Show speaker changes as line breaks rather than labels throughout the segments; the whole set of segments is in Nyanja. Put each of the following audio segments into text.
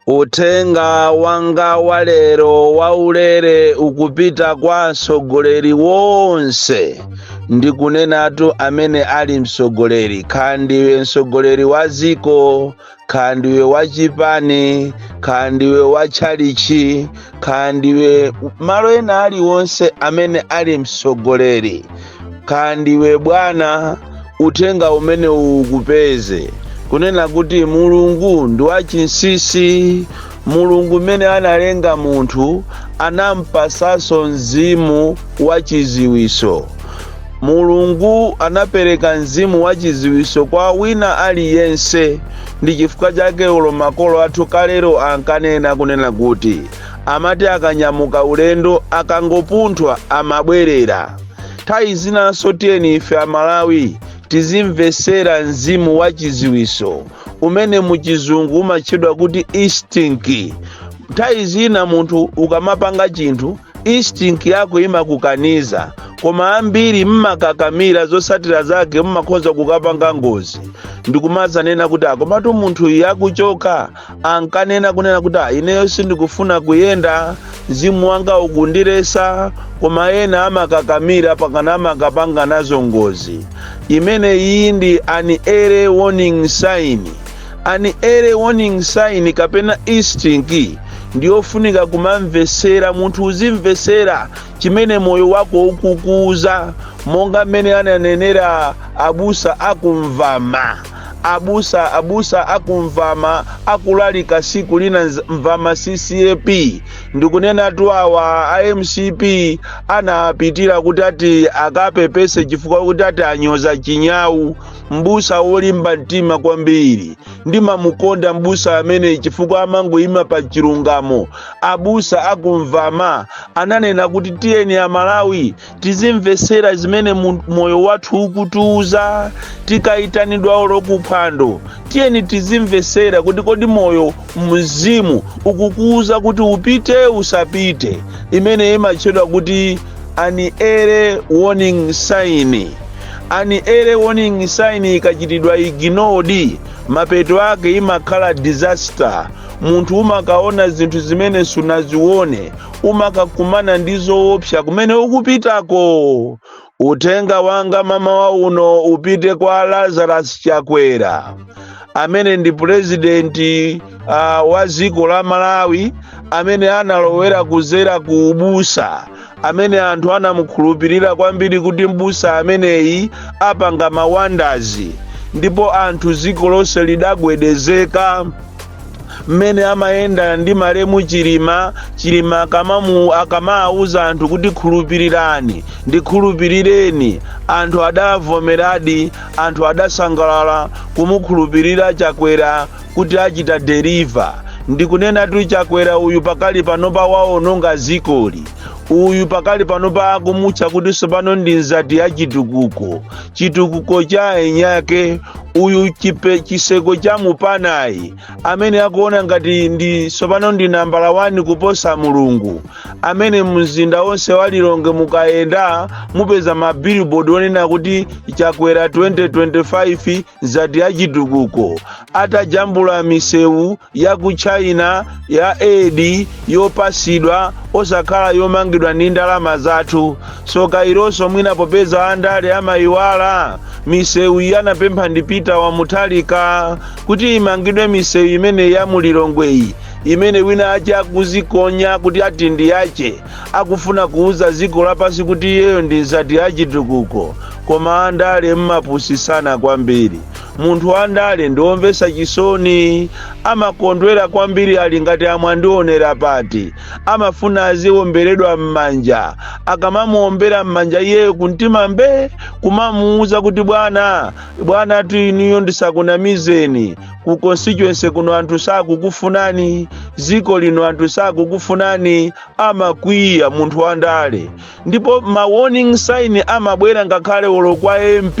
Uthenga wanga wa lero waulere ukupita kwa mtsogoleri wonse ndi kunenatu amene ali mtsogoleri kaya ndiwe mtsogoleri wa dziko kaya ndiwe wa chipani kaya ndiwe wa tchalichi kaya ndiwe malo ena aliwonse amene ali mtsogoleri kaya ndiwe bwana uthenga umene ukupeze kunena kuti mulungu ndi wachinsinsi mulungu mmene analenga munthu anampasanso mzimu wachiziwiso mulungu anapereka mzimu wachiziwiso kwa wina aliyense ndi chifukwa chake ulo makolo athu kalero ankanena kunena kuti amati akanyamuka ulendo akangopunthwa amabwerera nthawi zinanso tiyeni ife amalawi tizimvesera mzimu wa chiziwiso umene muchizungu umatchedwa kuti instinct nthawi zina munthu ukamapanga chinthu instinct yako imakukaniza koma ambiri mmakakamira zotsatira zake mmakhoza kukapanga ngozi ndikumazanena kuti ah komatu munthu yakuchoka ankanena kunena kuti "Ah, ineyo sindikufuna kuyenda mzimu wanga ukundiletsa koma ena amakakamira pakana amakapanga nazo ngozi imene iyi ndi an early warning sign an early warning sign kapena instinct ndiyofunika kumamvesera munthu uzimvesera chimene moyo wako ukukuuza monga mmene ananenera abusa akumvama abusa abusa akumvama akulalika siku lina mvama ccap ndikunenatu awa a mcp anapitira kuti ati akapepese chifukwa kuti ati anyoza chinyawu mbusa wolimba mtima kwambiri ndimamukonda mbusa amene chifukwa amangoyima pa chilungamo abusa akumvama ananena kuti tiyeni amalawi tizimvetsera zimene moyo wathu ukutiuza tikayitanidwa olo kuphwando tiyeni tizimvetsera kuti kodi moyo mzimu ukukuuza kuti upite usapite imene imatchedwa kuti an early warning sign an early warning sign ikachitidwa ignored mapeto ake imakhala disaster munthu umakaona zinthu zimene sunazione umakakumana ndi zoopsa kumene ukupitako uthenga wanga mamawa uno upite kwa lazarus chakwera amene ndi purezidenti wa dziko la malawi amene analowera kuzera ku ubusa amene anthu anamukhulupirira kwambiri kuti m'busa ameneyi apanga mawandazi ndipo anthu dziko lonse lidagwedezeka mmene amayenda ndi malemu chilima akamawuza anthu kuti khulupirirani ndikhulupirireni anthu adavomeradi anthu adasangalala kumukhulupirira chakwera kuti achita deliver ndikunenatu chakwera uyu pakali panopa waononga zikoli uyu pakali panopa akumutcha kuti sopano ndi nzati ya chitukuko chitukuko cha enyake uyu chiseko cha mupanayi amene akuona ngati ndi sopano ndi nambala 1 kuposa mulungu amene mzinda wonse wa lilongwe mukayenda mupeza mabilibodi onena kuti chakwera 2025 nzati ya chitukuko atajambula misewu ya ku china ya aid yopasidwa osakhala yomangidwa ndi ndalama zathu soka ilonso mwina popeza andale amayiwala misewu iyi anapempha ndi peter wa mutharika kuti imangidwe misewu imene ya mulilongweyi imene wina ache akuzikonya kuti ati ndi yache akufuna kuuza ziko lapasi kuti iyeyo ndi nzati ya chitukuko koma andale mmapusisana kwambiri munthu wandale ndiwomvesa chisoni amakondwera kwambiri ali ngati amwandionera pati amafuna aziwomberedwa mmanja akamamuwombera mmanja iyeyo kumtima mbe kumamuuza kuti bwana bwanatu inuyo ndisakunamizeni ku constituency kuno anthu sakukufunani ziko lino anthu sakukufunani amakwiya munthu wandale ndipo ma warning sign amabwera ngakhale olo kwa mp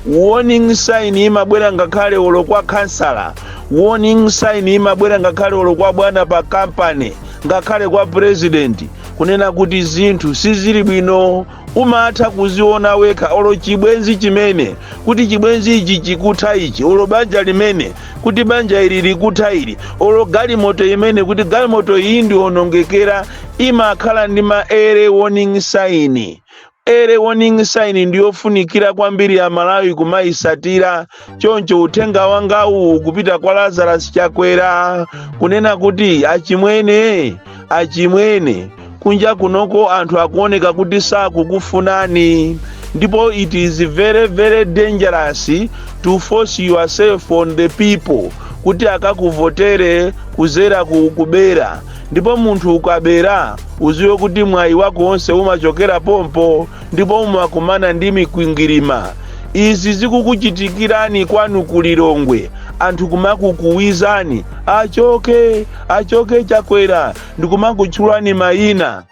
warning sign imabwera ngakhale olo kwa kansala warning sign imabwera ngakhale olo kwa bwana pa kampani ngakhale kwa president kunena kuti zinthu sizili bwino umatha kuziona wekha olo chibwenzi chimene kuti chibwenzi ichi chikutha ichi olo banja limene kuti banja ili likutha ili olo galimoto imene kuti galimoto iyi ndiwonongekera imakhala ndi ma early warning sign early warning sign ndiyofunikira kwambiri amalawi kumayisatira choncho uthenga wangawu ukupita kwa lazarus chakwera kunena kuti achimwene achimwene kunja kunoko anthu akuoneka kuti sakukufunani ndipo it is very very dangerous to force yourself on the people kuti akakuvotere kuzera ku kubera ndipo munthu ukabera uziwe kuti mwayi wako wonse umachokera pompo ndipo mumakumana ndi mikwingwirima izi zikukuchitikirani kwanu ku lilongwe anthu kumakukuwizani achoke achoke chakwera ndikumakutchulani mayina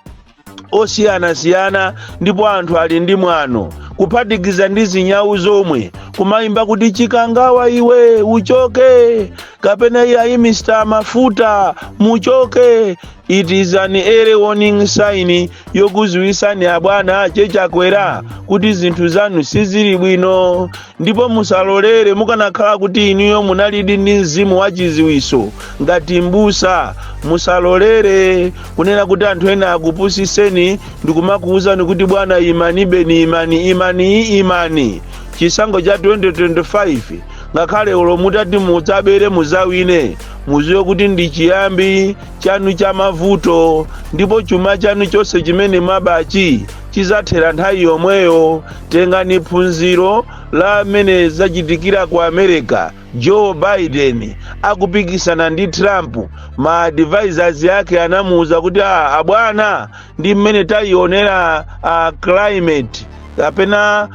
osiyanasiyana ndipo anthu ali ndi mwano kuphatikiza ndi zinyawu zomwe kumayimba kuti chikangawa iwe uchoke kapena iyayi mr mafuta muchoke It is an early warning sign yokuziwisani abwana che chakwera kuti zinthu zanu sizili bwino ndipo musalolere mukanakhala kuti inuyo munalidi ndi mzimu wa chiziwiso ngati mbusa musalolere kunena kuti anthu ena akupusiseni ndikumakuwuzani kuti bwana imanibeni imani imani imani chisankho cha 2025 ngakhale olo mutati mudzabere muzawine muziwe kuti ndi chiyambi chanu cha mavuto ndipo chuma chanu chonse chimene mwabachi chizathera nthawi yomweyo tengani phunziro la mmene zachitikira ku america joe biden akupikisana ndi trump ma advisors yake anamuwuza kuti a abwana ndi mmene tayionera climate kapena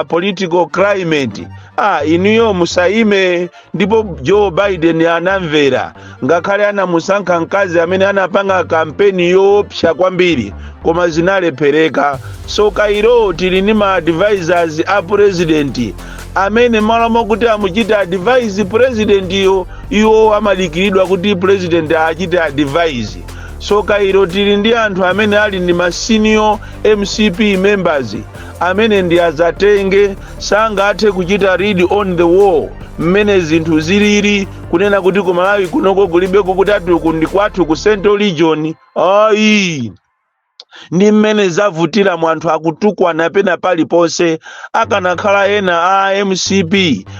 political climate a inuyo musayime ndipo joe biden anamvera ngakhale anamusankha mkazi amene anapanga kampeni yoopsa kwambiri koma zinalephereka sokailo tili ndi ma advisors a president amene malo mokuti amuchite advise president yo iwo amadikiridwa kuti president awachite advise sokailo tili ndi anthu amene ali ndi ma senior mcp members amene ndi adzatenge sangathe kuchita read on the wall mmene zinthu zilili kunena kuti ku malawi kunoko kulibeko kuti ati uku ndi kwathu ku central region ayi ndi mmene zavutiramu anthu akutukwana pena paliponse akanakhala ena a mcp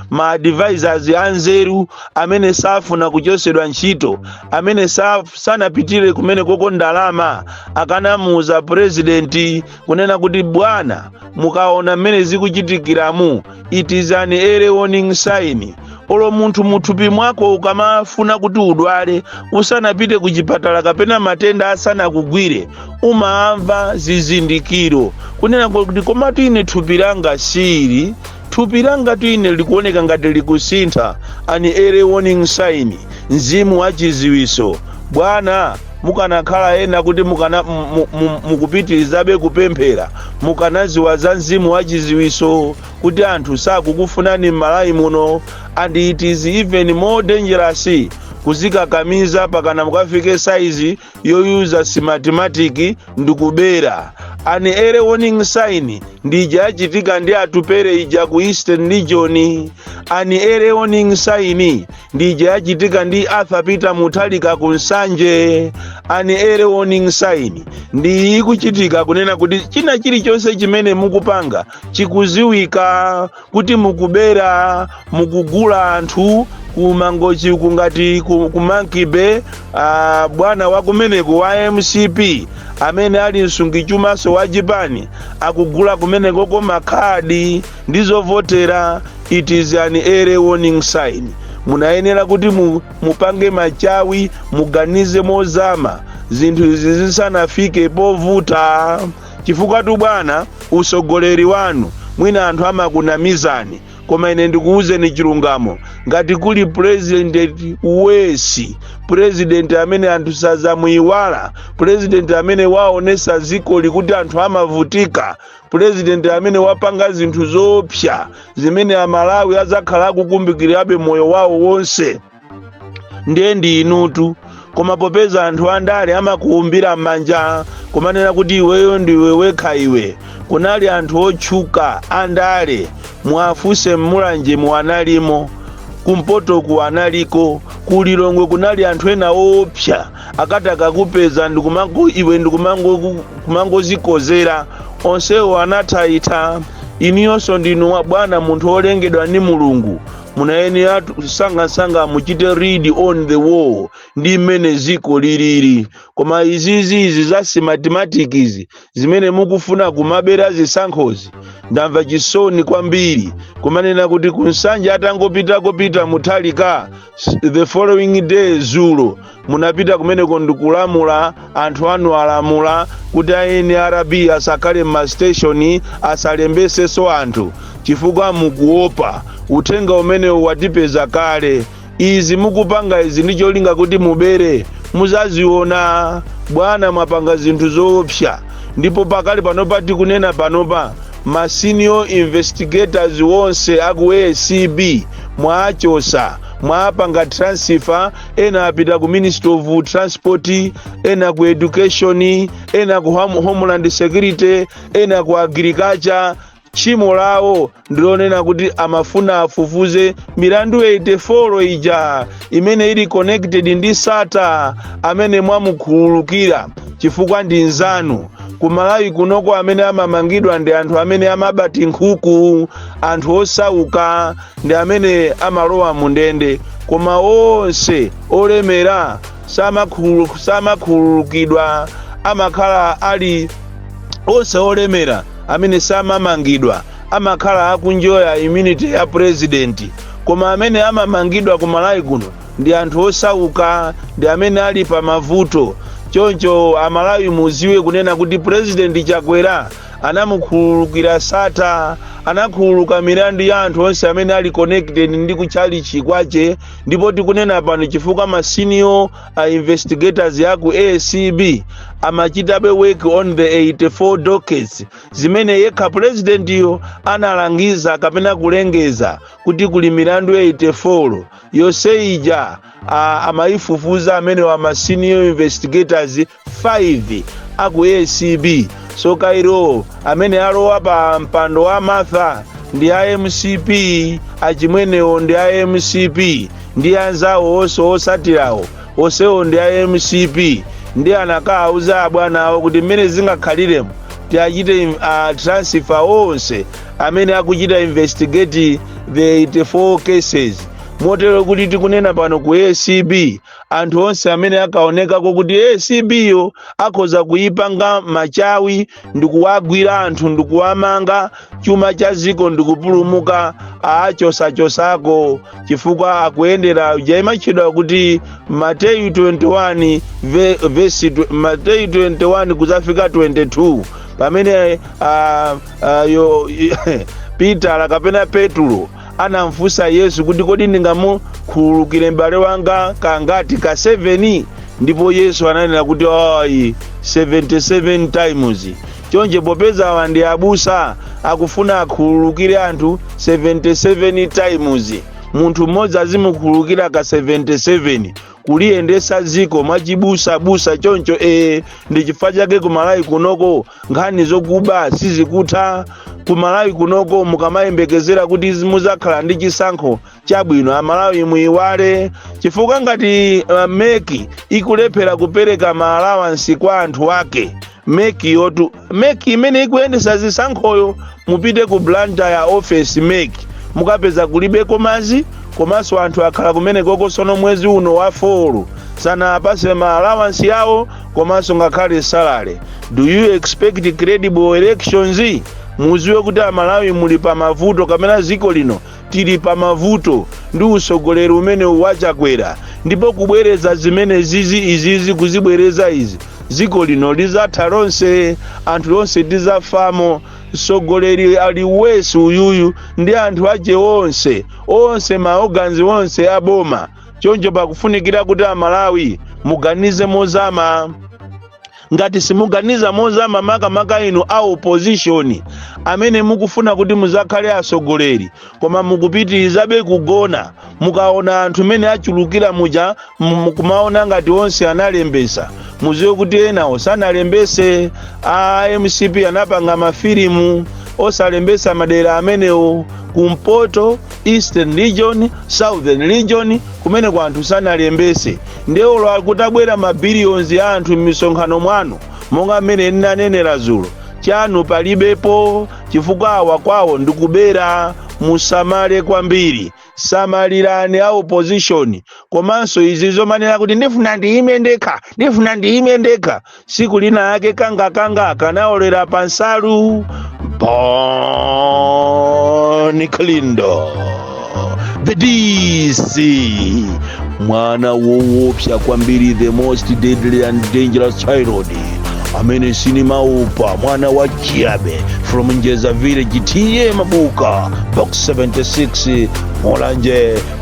ma advisors anzeru amene safuna kuchosedwa ntchito amene sa- sanapitire kumene kuko ndalama akanamuuza purezidenti kunena kuti bwana mukaona mmene zikuchitikiramu it is an early warning sign olo munthu muthupi mwako ukamafuna kuti udwale usanapite ku chipatala kapena matenda asanakugwire umamva zizindikiro kunena kuti komatu ine thupi langa sili thupi langatu ine likuoneka ngati likusintha an early warning sign mzimu wa chiziwiso bwana Mukanakhala ena kuti mukana, mu, mu, mukupitirizabe kupemphera mukanaziwa za mzimu wa chiziwiso kuti anthu sakukufunani m'Malawi muno and it is even more dangerous kuzikakamiza pakana mukafike size yoyuza Smartmatic ndikubera an early warning sign ndi ija yachitika ndi Atupele ija ku Eastern Region an early warning sign ndi ija yachitika ndi Arthur Peter Mutharika ku Nsanje an early warning sign ndi ikuchitika kunena kuti china chilichonse chimene mukupanga chikuziwika kuti mukubera mukugula anthu ku Mangochi uku ngati ku- ku Monkey Bay ah, bwana wa kumeneko wa MCP amene ali msungichumaso wa chipani akugula kumenekoko makhadi ndi zovotera it is an early warning sign munayenera kuti mu, mupange machawi muganize mozama zinthu izi zisanafike povuta chifukwatu bwana usogoleri wanu mwina anthu amakunamizani koma ine ndikuwuzeni chilungamo ngati kuli purezidenti worst president amene anthu sazamuyiwala purezidenti amene waonesa zikoli kuti anthu amavutika pulezidenti amene wapanga zinthu zoopsa zimene amalawi adzakhala akukumbukirabe moyo wawo wonse ndiye ndi inutu koma popeza anthu andale amakuumbira m'manja kumanena kuti iweyo ndiwe wekha iwe kunali anthu otchuka andale muwafunse m'Mulanje mu analimo kumpoto ku analiko ku Lilongwe kunali anthu ena oopsa akati akakupeza ndikumango iwe ndikumango kumangozikozera onsewo anathaitha inuyonso ndinu abwana munthu wolengedwa ndi mulungu munayenera sangasanga muchite read on the wall ndi mmene ziko lilili koma izizi izi za Smartmatic izi zimene mukufuna kumabera zisankhozi ndamva chisoni kwambiri kumanena kuti ku Nsanje atangopitako Peter Mutharika the following day zulo munapita kumeneko ndikulamula anthu anu alamula kuti a NRB asakhale m'masiteshoni asalembeseso anthu chifukwa mukuopa uthenga umenewu watipeza kale izi mukupanga izi ndi cholinga kuti mubere muzaziona bwana mwapanga zinthu zoopsa ndipo pakali panopa tikunena panopa Ma senior investigators onse aku ACB mwaachosa, mwaapanga transfer, ena apita ku Ministry of Transport, ena ku Education, ena ku Home- Homeland Security, ena ku Agriculture. Tchimo lawo ndilonena kuti amafuna afufuze milandu 84 ija imene ili connected ndi Sattar amene mwamukhululukira chifukwa ndi nzanu kumalawi kunoko amene amamangidwa ndi anthu amene amaba tinkhuku anthu osauka ndi amene amalowa mu ndende koma onse olemera samakhulu- samakhululukidwa amakhala ali onse olemera amene samamangidwa amakhala akuenjoya immunity ya president koma amene amamangidwa ku malawi kuno ndi anthu osauka ndi amene ali pa mavuto choncho amalawi muziwe kunena kuti president chakwera anamukhululukira Sattar anakhululuka milandu ya anthu onse amene ali connected ndi kuchalichi kwache ndipo tikunena pano chifukwa masenior investigators aku acb amachitabe work on the 84 dockets zimene yekha pulezidentiyo analangiza kapena kulengeza kuti kuli milandu 84 yonse ija a- amayifufuza amenewa ma senior investigators 5 aku acb so Kayira amene alowa pa mpando wa martha ndi a mcp achimwenewo ndi a mcp ndi anzawo onse osatirawo osewo ndi a mcp ndi anakawauza abwana awo kuti mmene zingakhaliremo tiachite im- a transfer onse amene akuchita investigate the 84 cases motero kuti tikunena pano ku acb anthu onse amene ankaonekako kuti acb yo akhoza kuyipanga machawi ndikuwagwira anthu ndikuwamanga chuma cha dziko ndikupulumuka achosachosako chifukwa akuyendera ija imatchedwa kuti mateyu 21 ve- vesi tw- mateyu 21 kudzafika 22 pamene ah, ah, yo- pitala kapena petulo anamfunsa yesu kuti kodi ndingamukhululukire m'bale wanga kangati ka 7 ndipo yesu ananena kuti ayi 77 times Choncho popeza awa ndi abusa akufuna akhululukire anthu 77 times, munthu mmodzi azimukhululukira ka 77 kuliyendesa dziko mwachibusa busa choncho ee ndi chifukwa chake kumalawi kunoko nkhani zokuba sizikutha kumalawi kunoko mukamayembekezera kuti muzakhala ndi chisankho chabwino amalawi muiwale chifukwa ngati uh, meki ikulephera kupereka maalawansi kwa anthu ake meki yotu meki imene ikuyendesa zisankhoyo mupite ku blantyre office meki mukapeza kulibeko madzi komanso anthu akhala kumenekoko sono mwezi uno wa folo sanawapase maalawansi awo komanso ngakhale salary do you expect credible elections muziwe kuti amalawi muli pa mavuto kapena ziko lino Tili pa mavuto ndi utsogoleri umenewu wa Chakwera ndipo kubwereza zimene izi izizi kuzibwereza izi dziko lino lizatha lonse anthu tonse tizafamo mtsogoleri ali worse uyuyu ndi anthu ache onse onse ma organ onse a boma choncho pakufunikira kuti aMalawi muganize mozama ngati simuganiza mozama makamaka inu a opposition amene mukufuna kuti muzakhale atsogoleri koma mukupitirizabe kugona mukaona anthu mene achulukira muja mukumaona ngati onse analembesa muziwe kuti enawo sanalembese a MCP anapanga mafilimu osalembesa madera amenewo kumpoto eastern region southern region kumenekwa anthu sanalembese Ndiye olo akutabwera ma billions a anthu mmisonkhano mwanu, monga mmene nnanenera zulo, chanu palibepo chifukwa awa kwawo ndikubera. Musamale kwambiri. Samalirani a opposition. Komanso izi zomanena kuti ndifuna ndiyime ndekha, ndifuna ndiyime ndekha. siku lina lake kanga kanga kanaolera pa nsalu Bon Kalindo the DC mwana woopsa kwambiri the most deadly and dangerous child amene sinimaopa mwana wa Chiabe from Njeza village TA Mabuka box 76 Mulanje